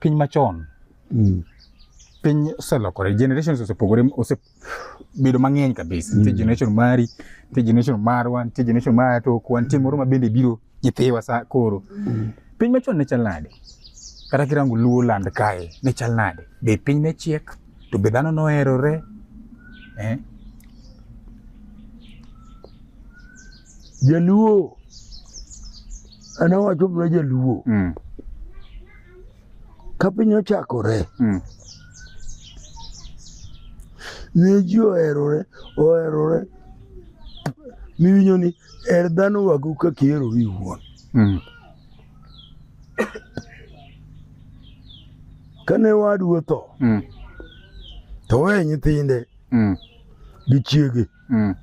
piny machon mm. piny oselokore generations osepogore osebedo mang'eny kabisa nitie mm. generation mari nitie generation marwa nitie generation mara tokwa nitie moro ma bende biro nyithiwa sa koro mm. piny machon ne chal nade kata kirango luo land kae ne chal nade be piny ne chiek to be dhano noherore eh? jaluo an awacho mana jaluo mm. Ka piny ochakore, mm. ne ji oherore oherore miwinjo ni er dhano wago ka kihero iwuon mm. kane wadu otho mm. to weye nyithinde mm. gi chiege Mm.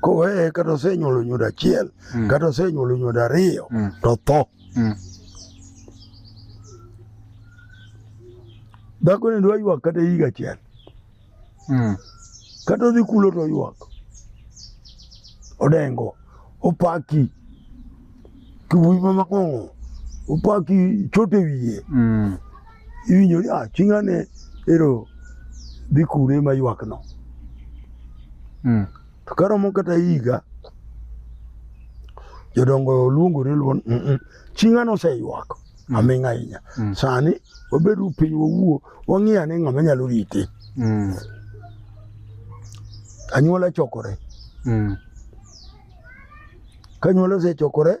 Koweye kata osenyuolo nyodo achiel mm. kata osenyuolo nyodo ariyo mm. to tho. Mm. Dhako ni dwa ywak kata higa achiel. Mm. Kata odhi kulo to ywak. Odengo, opaki. kiwuoyi ma makong'o opak chot e wiye mm. iwinjo ni ah, chinga ne ero dhi kure ma ywakno mm. to karomo kata higa jodongo luongore luon mm -mm. chinga noseywak mm. aming ahinya mm. sani wabedo piny wawuo wang'iyo ane ng'ama nyalo rite mm. anyuola chokore mm. Kanyuola osechokore,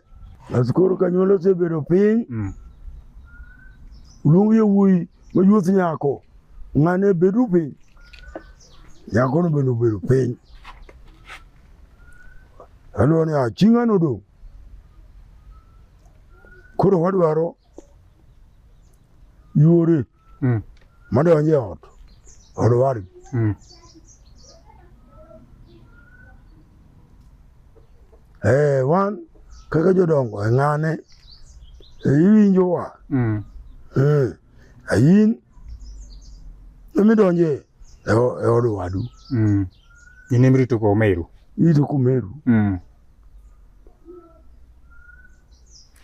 bas koro kanyuola osebedo piny. Mm. Luong yawuoyi mayuoth nyako, ng'ane bedu piny. Nyakono bende obedo piny. Aluwo ni achi ng'ano odong'. Koro wadwaro yore mm. madonjo e ot od wadgi mm. eh, wan kaka jodongo e ng'ane e iwinjowa mm. eh, ayin emidonje e, e od wadu mm. in imirito kwa umeru irito kwa umeru mm.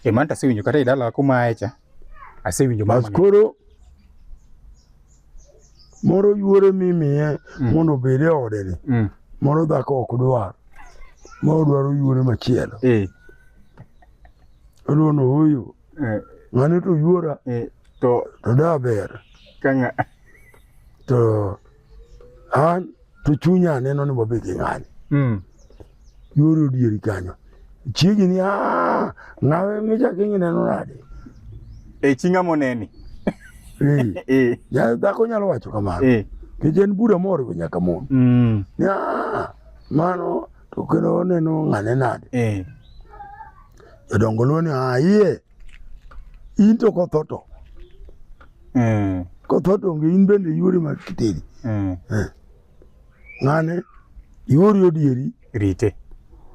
e man tasewinjo kata idala kumaecha Asewinjo mama. Bas koro moro yuore mimiye mm. mondo obed e ode ni mm. moro dhako ok dwar ma odwaro yuore machielo eh. oluono huyu eh. ng'ane to yuora eh. to daber to an to chunya aneno ni wabed gi ng'ani mm. yore odieri kanyo chiegi ni ah, ng'awe michaki ngineno nade e chi ng'a moneni e. ya dhako nyalo wacho kamano e. nikech en bura moriwo nyaka mon mm. ni ah, mano to kendo oneno ng'ane nade e. jodongo luo ni ayie ah, in to kotho to mm. kotho to onge in bende yuori mag kiteri mm. eh. ng'ane yuori odieri rite